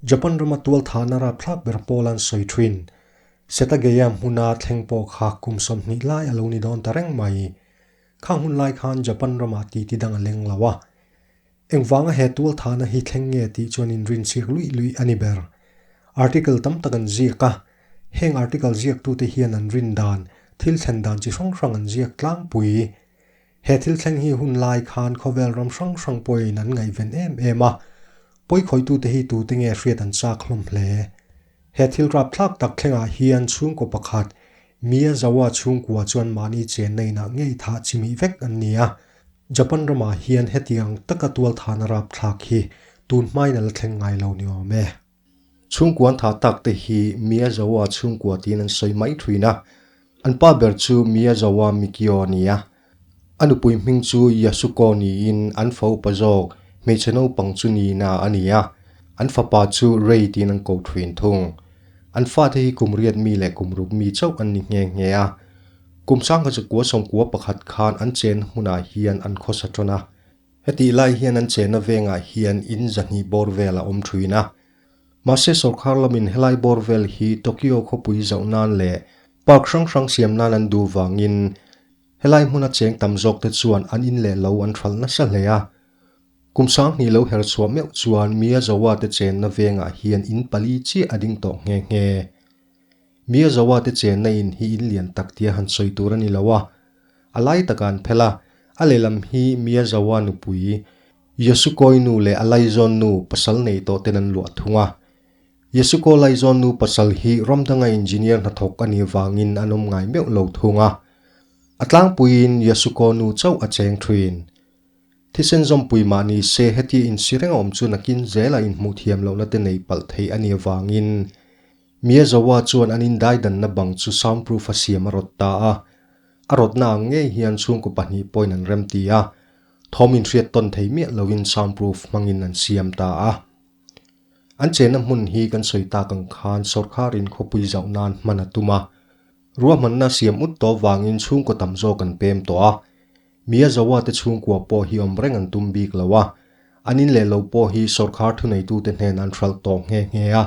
Japan rama tualthahna rapthlak ber pawl an sawi thin. Setagaya hmuna thleng pawh kha kum sawm hnih lai a lo ni dawn ta reng mai. Khang hun lai khan Japan ramah titi dang a leng lo a. Engvanga he tualthana hi thleng nge tih chuan inrinchhîk luih luih a ni ber. Article tam tak an ziak a, hêng article ziaktute hian an rin dan, thil thlen dan chi hrang hrang an ziak tlangpui. He thil thleng hi hun lai khân khawvêl ram hrang hrang pawhin an ngaihven êm êm a. Pawikhawihtute hi tute nge hriat an châk hlawm hle. He thilrâp thlâk tak thlengah hian chhûngkaw pakhat Mi an zo a, chhungkua chuan mahni chen na inah ngei thah chimih vek an ni a. Japan ramah hian heti ang taka tualthana rapthlak hi tun hmain a la thleng ngai lo ni awm e. Chhungkua an thah tak te hi mi a zo a chhungkua tiin an sawi mai thlui in a, an pa ber chu mi a zo a Mikio a ni a, A nupui hming chu Yasuko niin an fa upa zawk hmeichhe naupang chu Nina a ni a, an fapa chu Rei tiin an ko thin thung. An fate hi kum riat mi leh kum ruk mi chauh an ni nghe nghe a. Kum sangha chakua sawmkua pakhat khan an chen hunah hian an khawsa tawn a. Hetih lai hian an chenna vengah hian in zahnih bawr vel a awm thin a. Mahse sawrkar lamin helai bawr vel hi Tokyo khawpui zauh nan leh Park hrang hrang siam nan an duh vangin helai hmuna cheng tam zawkte chuan an in leh lo an hralh nasa hle a. Kum sanghnih lo herh chhuah meuh chuan Mia Zawa te chenna vengah hian in pali chiah a ding tawh nghe nghe. Mia Zawa te chenna in hi in lian tak tia han sawi tur a ni lo a, a lai takah an phelh a, a lehlam hi Mia Zawa nupui Yasukawinu leh a laizawnnu pasal nei tawhten an luah thung a, Yasuko Laizawnnu pasal hi Ramdanga engineer hnathawk a nih vangin an awm ngai meuh lo thung a, a tlangpuiin Yasuko nu chauh a cheng thin. Thisen zawmpui mah ni se heti insireng a awm chu nakin zela inhmuh thiam lohna te nei palh theih a nih avangin Miyazawa chuan an indaidanna bang chu soundproof a siam a rawt ta a, a rawtna ang ngei hian chhungkaw pahnih pawhin an rem ti a, thawm inhriat tawn thei miah loin soundproof hmangin an siam ta a. An chenna hmun hi kan sawi tak ang khan sorkarin khawpui zauh nan hman a tum a, ruahmanna siam ut tawh vangin chhungkaw tam zawk an pem tawh a. Mi a zoa te chhungkua pawh hi awm reng an tum bik lo a, an in leh lo pawh hi sorkar thuneitute hnena an hralh tawh nghe nghe a.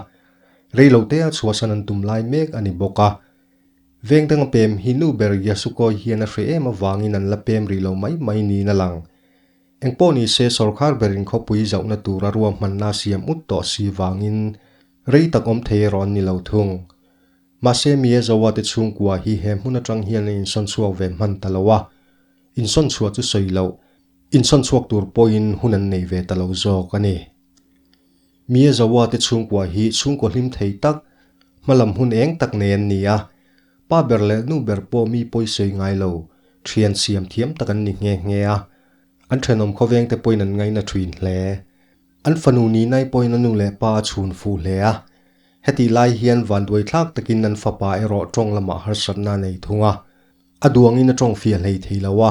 Reilo tea chhuahsan an tum lai mek a ni bawk a. Veng danga pem hi nu ber Yasukawi hian a hre em avangin an la pem rih lo mai mai niin a lang. Engpawh ni se sorkar berin khawpui zauhna tura ruahmanna siam ut tawh si vangin rei tak awm thei erawh an ni lo thung. Mahse mi Ezoa te chhungkua hi he hmun atang hian an insawn chhuak ve hman ta lo a, insawn chhuah chu sawi loh, insawn chhuak tur pawhin hun an nei ve ta lo zawk a ni. Mi Ezoa te chhungkua hi chhungkaw hlim thei tak, hmalam hun eng tak nei an ni a, Pa ber leh nu ber pawh mi pawi sawi ngai lo, thian siam thiam tak an ni nghe nghe a, an thenawm khawveng te pawhin an ngaina thin hle. An fanu nihnaih pawhin a nu leh pa a chhun fuh hle a, heti lai hian vanduaithlak takin an fapa erawh tawng lamah harsatna a nei thung a, a duangin a tawng fia hlei thei lo a,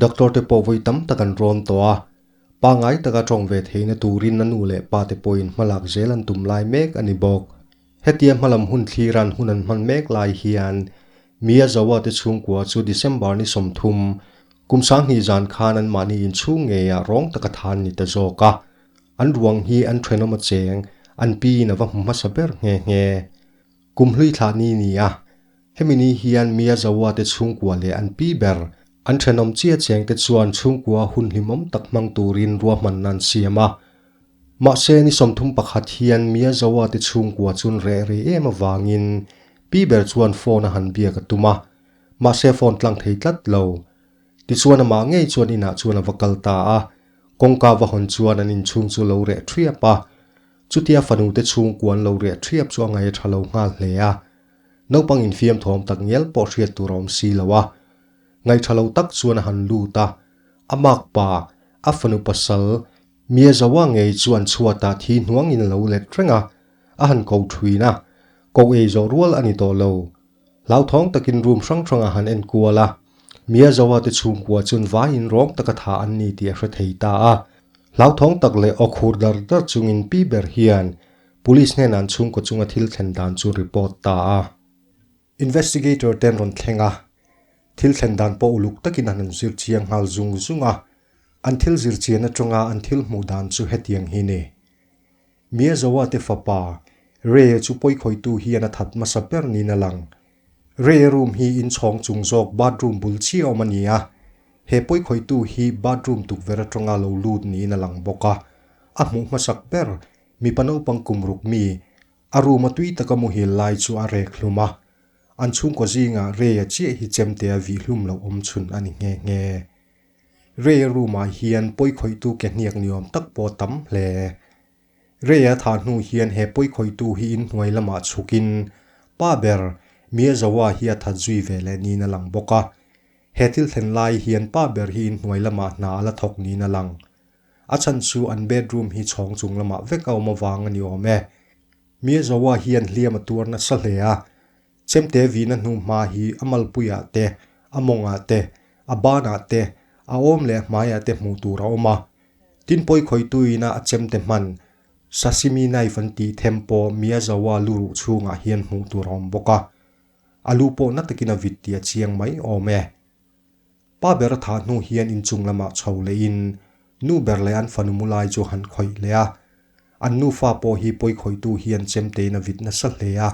doctor te pawh vawi tam tak an rawm tawh a, pangai taka tawng ve theihna turin a nu leh pa te pawhin hmalak zel an tum lai mek a ni bawk. Hetia hmalam hun thliran hun an hman mek lai hian Mia Zawa te chhungkua chu December ni sawmthum, kum sanghnih zan khan an mahni inchhung ngeia rawng taka than ni ta zawk a, an ruang hi an thenawm a cheng, an piin a va hmu hmasa ber nghe nghe. Kum hlui thlah ni nia. Hemi ni hian Mia Zaua te chhungkua leh an pi ber, an thenawm chia cheng te chuan chhungkua hun hlimawm tak hmang turin ruahmanna an siam a. Mahse, ni sawmthum pakhat hian Mia Zaua te chhungkua chun reh reh em avangin pi ber chuan phone a han biak a tum a. Mahse, phone tlang thei tlat lo. Tichuan amah ngei chuan inah chuan a va kal ta a. Kawngka va hawn chuan an inchhung chu a lo reh ṭhiap a. Chutia fanu te chhungkua an lo reh ṭhiap chu a ngai a ṭha lo nghal hle a. Naupang infiam thawm tak ngial pawh hriat tur a awm si lo a, ngaihṭha lo tak chuan a han lut a, a mak pa, a fanu pasal, Mia Zoa ngei chu an chhuatah thi hnuangin a lo let reng a, a han ko ṭhin a, ko ei zawh rual a ni tawh lo. Hlauthawng takin room hrang hrangah han en kual a, Mia Zoa te chhungkua chuan vaiin rawng taka tha an ni tih a hre thei ta a, hlauthawng tak leh awkhur dar dar chungin pi ber hian Police hnenah an chhungkaw chunga thil thlen dan chu report ta a, investigator te an rawn thleng a, thil thlen dan pawh uluk takin an rawn zir chiang nghal zung zung a, an thil zir chian atanga an thil hmuh dan chu hetiang hi ni, Mia Zoa te fapa Reye chu pawikhawitu hian a that hmasa ber niin a lang. Reye room hi in chhawng chung zawk bathroom bul chiah awm a ni a, he pawikhawitu hi bathroom tukverh atanga lo lut niin a lang bawk a, a hmuh hmasak ber Mipa naupang kum ruk mi a ruma tui taka muhil lai chu a rek hlum a, an chhungkaw zingah Ray-a chiah hi chemte a vih hlum loh awm chhun a ni nghe nghe. Ray-a room-ah hian pawi khawihtu ke hniak ni awm tak pawh a tam hle. Ray-a tha hnu hian he pawi khawihtu hi in hnuai lamah chhukin pa ber Mirzawa hi a that zui ve leh niin a lang bawk a. He thil thlen lai hian pa ber hi in hnuai lamah hna a la thawk niin a lang. A chhan chu an bedroom hi chhawng chung lamah vek a awm avang a ni awm e. Mirzawa hian hliam a tuar nasa hle a. Chemte vina hnu hma hi a malpuiah te, a mawngah te, a banah te, a awm leh a hmaiah te hmuh tur a awm a. Tin pawi khawitu ina a chemte hman sashimi knife an tih them pawh Mirzawa lu ruh chhungah hian hmuh tur a awm bawk a. A lu pawh na takin a vit tih a chiang mai awm e. Pa ber a thah hnu hian inchung lamah chho lehin nu ber leh an fanu mu lai chu a han khawih leh a. An nufa pawh hi pawi khawitu hian chem tein a vit nasa hle a.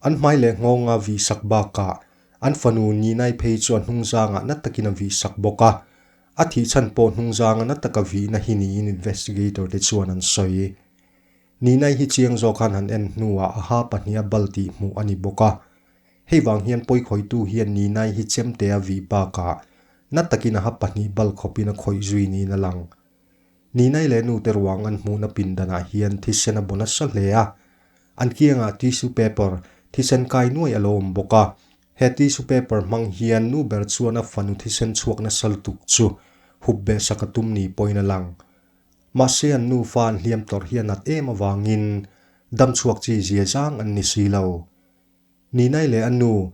An hmai leh nghawngah vih sak bakah an fanu Ninai phei chu a hnungzangah na takin a vih sak bawk a. A thih chhan pawh hnungzanga na taka vihna hi niin investigator te chuan an sawi. Ninai hi chiang zawk khan han en hnuah a ha pahniha bal tih hmuh a ni bawk a. Hei vang hian pawikhawitu hian Ninai hi chemte a vih bakah na takin a ha pahnih bal khawpin a khawih zui niin a lang. Ninai leh nute ruang an hmuhna pindanah hian thisen a baw nasa hle a. An kiangah tissue paper, thisen kai nuai a lo awm bawk a. He tissue paper hmang hian nu ber chuan a fanu thisen chhuak nasa lutuk chu hup behsak a tum ni pawhin a lang. Mahse an nufa an hliam tawrh hi a nat em avangin damchhuak chi zia zang an ni si lo. Ninai leh a nu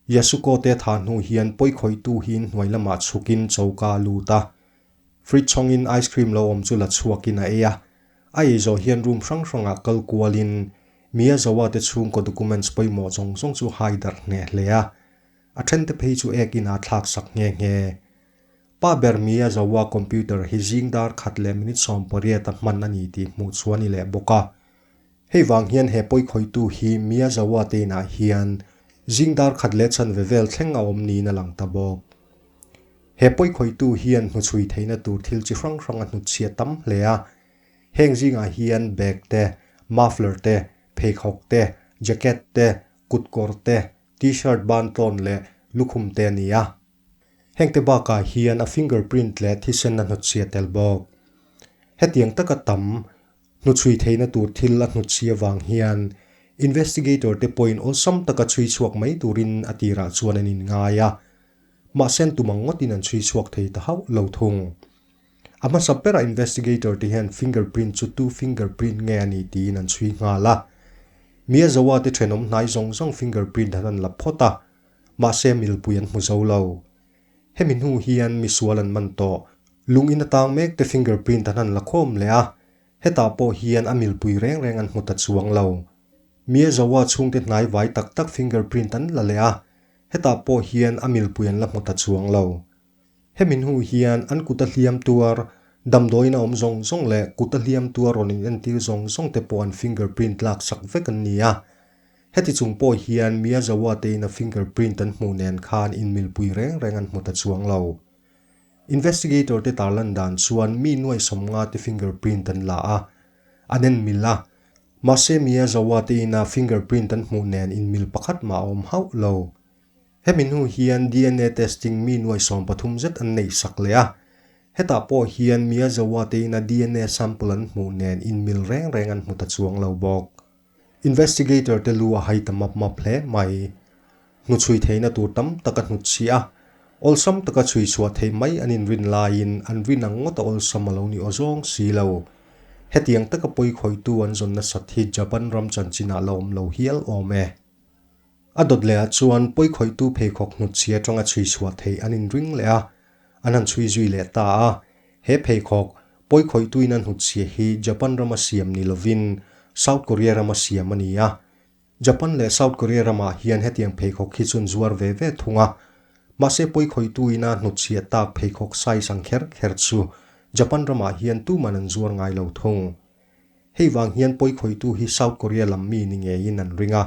Yasuko te tha hnu hian pawikhawitu hi in hnuai lamah chhukin choka a lut a, fridge chhawngin ice cream lo awm chu la chhuakin a ei a. A ei zawh hian room hrang hrangah kal kualin Miyazawa te chhungkaw documents pawimawh zawng zawng chu haidarh hneh hle a. A thente phei chu ek inah thlaksak nghe nghe. Pa ber mia zoa computer hi zing dar khat leh minute sawm pariat a hman a ni tih hmuh chhuah ni leh bawk a. Hei vang hian he pawi khawitu hi mia zoa te inah hian zing dar khat leh chhan ve vel thleng a awm niin a lang ta bawk. He pawi khawitu hian hnuchhui theihna tur thil chi hrang hrang a hnut chhiat tam hle a. Heng zingah hian bag te, muffler te, pheikhawk te, jacket te, kutkawr te, t-shirt ban tlawn leh lukhum te a ni a. Hengte bakah hian a fingerprint leh thisenna hnutchhia tel bawk. Hetiang taka tam hnuchhui theihna tur thil a hnutchhia vang hian investigator te point awlsam taka chhui chhuak mai turin a tirah chuan an inngai a. Mahsen tumang ngawtin an chhui chhuak thei ta hauh lo thung. A hmasa berah investigator te hian fingerprint chu two fingerprint nge a ni tiin an chhui nghal a. Mia Zoa te thenawm hnai zawng zawng fingerprint an han la phawt a. Mahse milpui an hmu zo lo. Hemi hnu hian misual an man tawh. Lungin atang mek te fingerprint an han la khawm leh a, hetah pawh hian a milpui reng reng an hmu ta chuang lo. Mia Zoua chhungte hnai vai tak tak fingerprint an la leh a, hetah pawh hian a milpui an la hmu ta chuang lo. Hemi hnu hian an kuta hliam tuar, damdawiin a awm zawng zawng leh kuta hliam tuar rawn in entir zawng zawng te pawh an fingerprint lak chak vek an ni a. Heti chung pawh hian Miyazawa te in a fingerprint an hmuh nen khan inmilpui reng reng an hmu ta chuang lo. Investigator te tar lan dan chuan mi nuaihsawm nga te fingerprint an la a, an en mil a. Mahse Miyazawa te ina fingerprint an hmuh nen inmil pakhat mah a awm hauh lo. Hemi hnu hian DNA testing mi nuaisawm pathum zet an neih sak leh a. Hetah pawh hian Mia Zauwa tein a DNA sample an hmuh nen inmil reng reng an hmu ta chuang lo bawk. Investigator te lu a hai ta map map hle mai. Hnu chhui theihna tur tam tak a hnut chhi a. Awlsam taka chhui chhuah theih mai an inrin laiin an rin ang ngawta awlsam a lo ni aw zawng si lo. Hetiang taka pawikhawitu an zawn nasat hi Japan ram chanchinah la awm lo hial awm e. A dawt lehah chuan pawikhawihtu pheikhawk hnutchhiat rawng a chhui chhuah thei an inring leh a, an han chhui zui leh ta a. He pheikhawk pawikhawihtuin a hnutchhia hi Japan rama siam ni lovin South Korea rama siam a ni a. Japan leh South Korea ramah hian hetiang pheikhawk hi chuan zuar ve ve thung a. Mahse pawikhawihtuin a hnutchhiat tak pheikhawk size ang kher kher chu Japan ramah hian tuman an zuar ngai lo thung. Hei vang hian pawi khawitu hi South Korea lam mi ni ngeiin an ring a,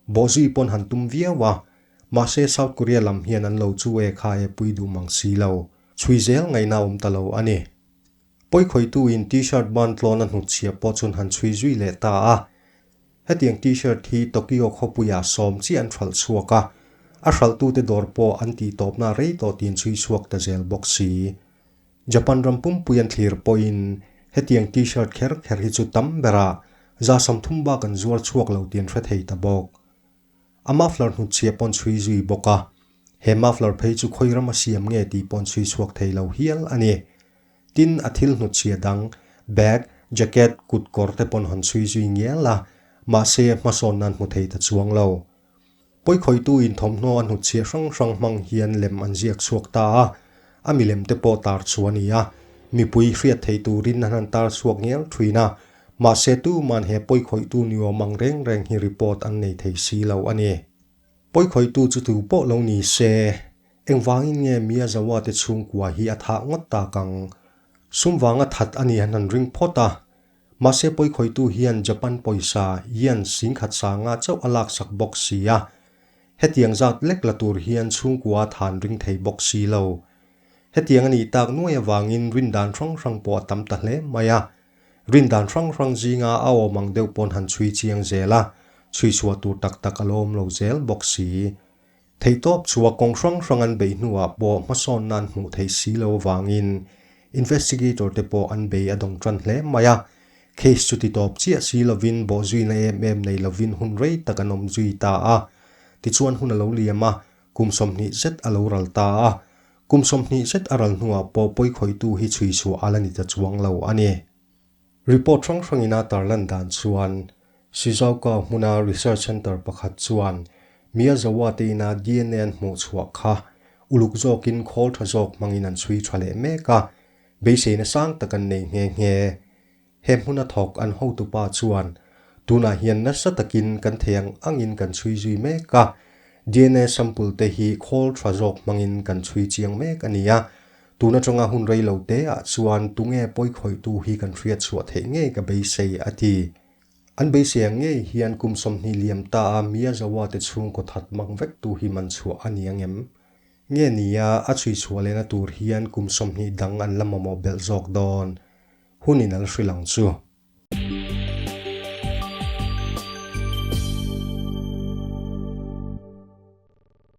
bawhzui pawn han tum viau a. Mahse South Korea lam hian an lo chu e kha e pui duh mang si lo, chhui zel ngaihna awm ta lo a ni. Pawi khawitu in T-shirt ban tlawn a hnut chhiah pawh chuan han chhui zui leh ta a. Hetiang T-shirt hi Tokyo khawpuiah sawm chiah an hralh chhuak a, a hralhtute dawr pawh an tihtawpna rei tawh tiin chhui chhuak ta zel bawk si. Japan ram pumpui an thlir pawhin hetiang T-shirt kher kher hi chu tam bera zasam thum bak an zuar chhuak lo tih an hre thei ta bawk. A muffler hnut chhia paw'n chhui zui bawk a, he muffler phei chu khawi rama siam nge tih paw'n chhui chhuak thei lo hial a ni. Tin, a thil hnut chhia dang, bag, jacket, kut, kawr te paw'n han chhui zui ngial a, mahse hmasawn nan hmu thei ta chuang lo. Pawikhawitu-in thawmhnaw a hnut chhiah hrang hrang hmang hian lem an ziak chhuak ta a, a milem te pawh tar chu a ni a, mipui hriat theih turin an han tar chhuak ngial thin a, mahse tuman he pawikhawitu ni awm ang reng reng hi report an nei thei si lo a ni. Pawikhawitu chu tu pawh lo ni se, engvangin nge Mia Zawa te chhungkua hi a thah ngawt tak ang? Sumvanga that a nih hian han ring phawt a. Mahse pawikhawitu hian Japan pawisa ian singkhat sanga chauh a laksak bawk si a, hetiang zat lek la tur hian chhungkua than ring thei bawk si lo. Hetiang a nih tak nuai avangin rindan hrang hrang pawh a tam ta hle mai a, rindan hrang hrang zinga a awm ang deuh paw'n han chhui chiang zel a, chhui chhuah tur tak tak a lo awm lo zel bawk si. Theihtawp chhuah kawng hrang hrang an bei hnuah pawh hmasawn nan hmuh theih si lo avangin investigator te pawh an bei a dawng tan hle mai a. Case chu ti tawp chiah si lovin bawhzuina em em nei lovin hun rei tak an awm zui ta a. Tichuan hun a lo liam a, kum sawmhnih zet a lo ral ta a. Kum sawmhnih zet a ral hnuah pawh pawi khawitu hi chhui chhuah a la ni ta chuang lo a ni. Report hrang hrangin a tar lan dan chuan Shizuoka hmuna research centre pakhat chuan Miyazawa te ina dna an hmuh chhuah kha uluk zawkin khawl tha zawk hmangin an chhui tha leh mek a, beiseina sang tak an nei nghe nghe. He hmuna thawk an hotu pa chuan, Tunah hian nasa takin kan thei ang angin kan chhui zui mek a, dna sample te hi khawl tha zawk hmangin kan chhui chiang mek a nia, Tuna tanga hun rei lo te ah chuan tunge pawi khawih tu hi kan hriat chhuah theih ngei ka beisei a ti. An beisei ang ngei hian kum sawmhnih liam ta a Mia Zawa te chhung kawthat mak vek tu hi man chhuah a ni ang em? Nge ni a, a chhui chhuah leh na tur hian kum sawmhnih dang an la mamawh belh zawk dawn. Hun in al hrilh ang chu.